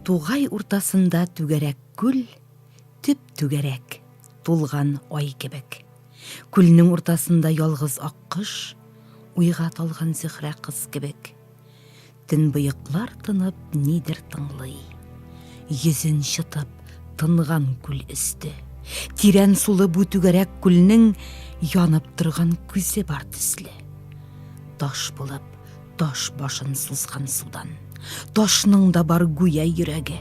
Тугай уртасында түгәрәк күл, төп түгәрәк, тулган ай кебек. Күлнең уртасында ялгыз аккош, уйга талган Зөһрә кыз кебек. Төнбоеклар тынып нидер тыңлый. Йөзен чытып тынган күл өсте. Тирән сулы бу түгәрәк күлнең янып торган күзе бар төсле. Таш булып, таш башын сузган судан. Ташның да бар гүя йөрәге.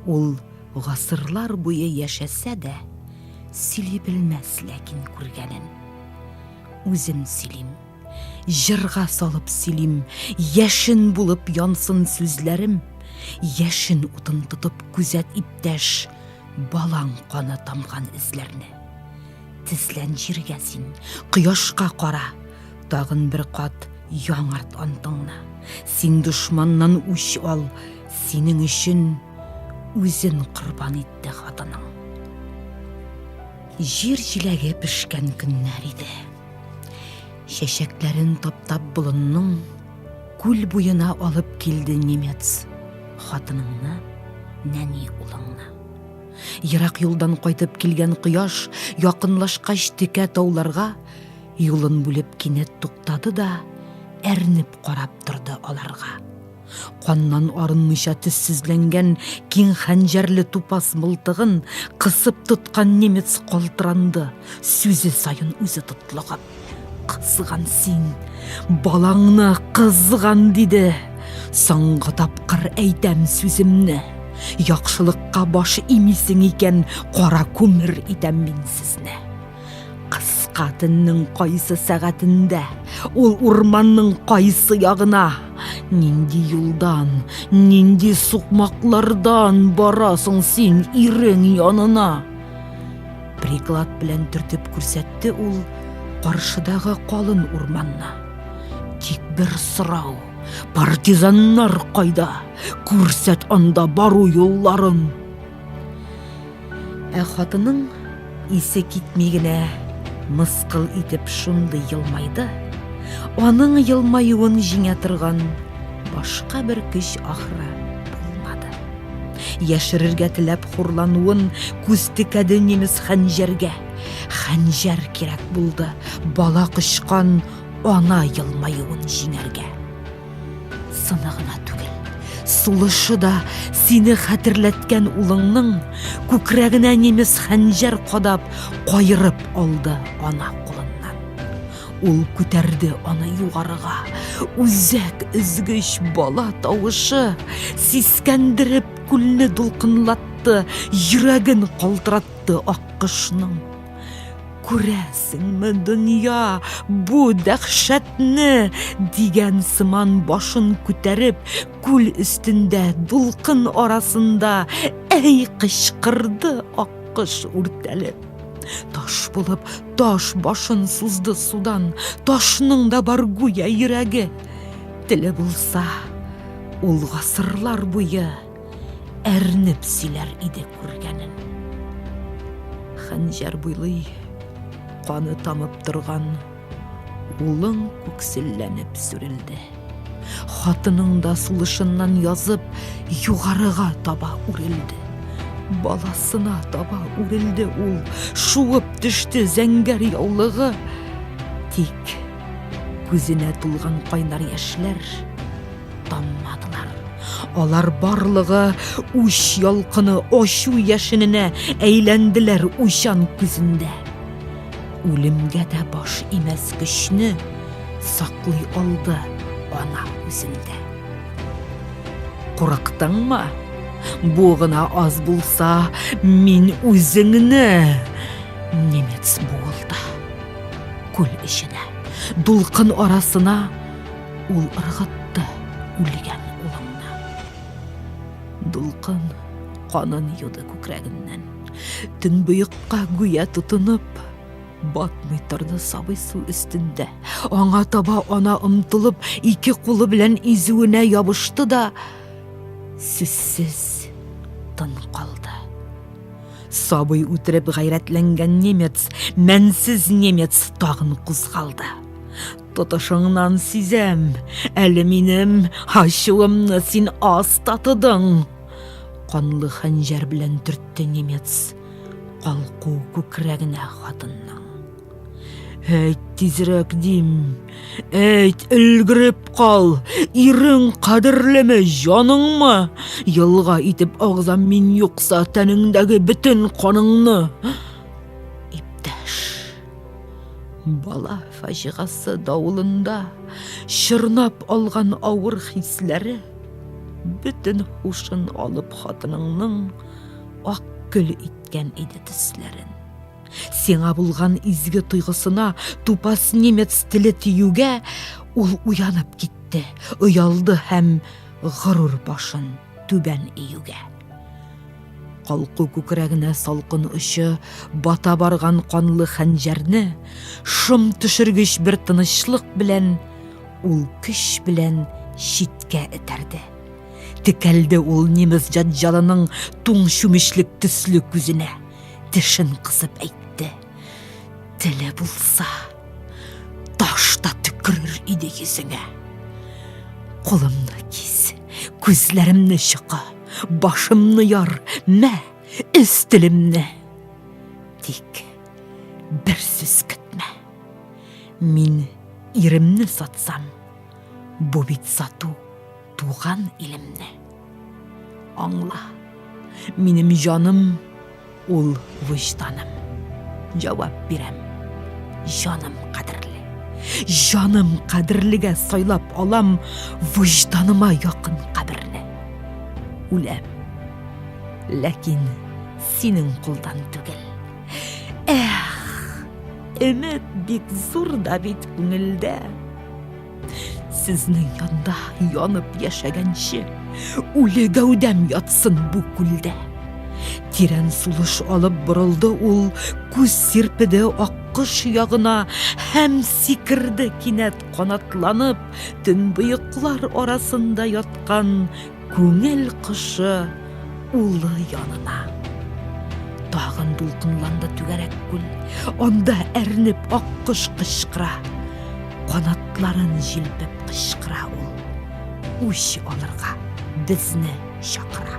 Ул гасырлар буе яшәсә дә, сөйли белмәс ләкин күргәнен. Үзем сөйлим. Җырга салып сөйлим, яшен булып янсын сүзләрем, яшен утын тотып күзәт иптәш, балаң каны тамган эзләрне. Тезлән җиргә син, кояшка кара, тагын бер кат яңарт антыңны. Син дошманнан үч ал, синең өчен үзен корбан итте хатының. Җир җиләге пешкән көннәр иде. Чәчәкләрен таптап болынның күл буена алып килде немец. Хатыныңны, нәни улыңны. Ерак юлдан кайтып килгән кояш якынлашкач текә тауларга юлын бүлеп кинәт туктады да әрнеп карап торды аларга. Каннан арынмыйча төссезләнгән киң хәнҗәрле тупас мылтыгын кысып тоткан немец калтыранды, сүзе саен үзе тотлыгып. Кызган син, балаңны кызган, диде. Соңгы тапкыр әйтәм сүземне. Яхшылыкка баш имисең икән, кара күмер итәм мин сезне. Кыска төннең кайсы сәгатендә, ул урманның кайсы ягына, нинди юлдан, нинди сукмаклардан барасың син ирең янына? Приклад белән төртеп күрсәтте ул каршыдагы калын урманны. Тик бер сорау, партизаннар кайда? Күрсәт анда бару юлларын. Ә хатының исе китми генә мыскыл итеп шундый елмайды, аның елмаюын җиңә торган башка бер көч ахры булмады. Яшерергә теләп хурлануын күз текәде немец хәнҗәргә. Хәнҗәр кирәк булды, бала кочкан ана елмаюын җиңәргә. Сыны гына түгел, сулышы да сине хәтерләткән улыңның күкрәгенә немец хәнҗәр кадап, кайырып алды ана кулыннан. Ул күтәрде аны югарыга. Үзәк өзгеч бала тавышы сискәндереп күлне дулкынлатты, йөрәген калтыратты аккошның. Күрәсеңме, дөнья, бу дәхшәтне! дигән сыман башын күтәреп, күл өстендә, дулкын арасында, әй кычкырды аккош үртәлеп. Таш булып, таш башын сузды судан, ташның да бар гүя йөрәге. Теле булса, ул гасырлар буе әрнеп сөйләр иде күргәнен. Хәнҗәр буйлый, каны тамып торган, улың күкселләнеп сүрелде. Хатының да сулышыннан язып, югарыга таба үрелде. Баласына таба үрелде ул, шуып төште зәңгәр яулыгы. Тик күзенә тулган кайнар яшьләр Тыңладылар. Алар барлыгы үч ялкыны ачу яшененә әйләнделәр уйчан күзендә. Үлемгә дә баш имәс көчне саклый алды ана үзендә. Курыктыңмы? Бу гына аз булса, мин үзеңне немец буылды. Күл эченә, дулкын арасына Ул ыргытты үлгән улыңны. Дулкын канын юды күкрәгеннән. Төнбоекка гүя тотынып, батмый торды сабый су өстендә. Аңа таба ана омтылып, ике кулы белән изүенә ябышты да сүзсез тын калды. Сабый үтереп гайрәтләнгән немец, мәнсез немец тагын кузгалды. Тотышыңнан сизәм, әле минем ачуымны син аз татыдың. Канлы хәнҗәр белән төртте немец. Калку күкрәгенә хатынның. Әйт тизрәк дим. Әйт, өлгереп кал. Ирең кадерлеме, җаныңмы? Елга итеп агызам мин юкса тәнеңдәге бөтен каныңны. Бала фаҗигасы давылында чорнап алган авыр хисләре бөтен хушын алып хатыныңның ак көл иткән иде төсләрен. Сиңа булган изге тойгысына тупас немец теле тиюгә ул уянып китте, оялды һәм горур башын түбән июгә. Калку күкрәгенә салкын очы бата барган канлы хәнҗәрне шом төшергеч бер тынычлык белән ул көч белән читкә этәрде. Текәлде ул немец җаҗалының туң чүмечлек төсле күзенә, тешен кысып әйтте. Теле булса, таш та төкерер иде йөзеңә. Кулымны кис, күзләремне чыка, башымны яр, мә, эз телемне. Тик бер сүз көтмә. Мин иремне сатсам, бу бит сату. Туган илемне аңла. Минем җаным ул вөҗданым. Җавап бирәм. Җаным кадерле. Җаным кадерлегә сайлап алам вөҗданыма якын каберне. Үләм. Ләкин синең кулдан түгел. Эх, өмет бик зур да бит күңелдә. Сезнең янда янып яшәгәнче, үле гәүдәм ятсын бу күлдә. Тирән сулыш алып борылды ул, күз сирпеде аккош ягына һәм сикерде кинәт канатланып, төнбоеклар арасында яткан Күңел кошы улы янына. Тагын дулкынланды түгәрәк күл. Анда әрнеп аккош кычкыра. Канатларын җилпеп кычкыра ул. Үч алырга безне чакыра.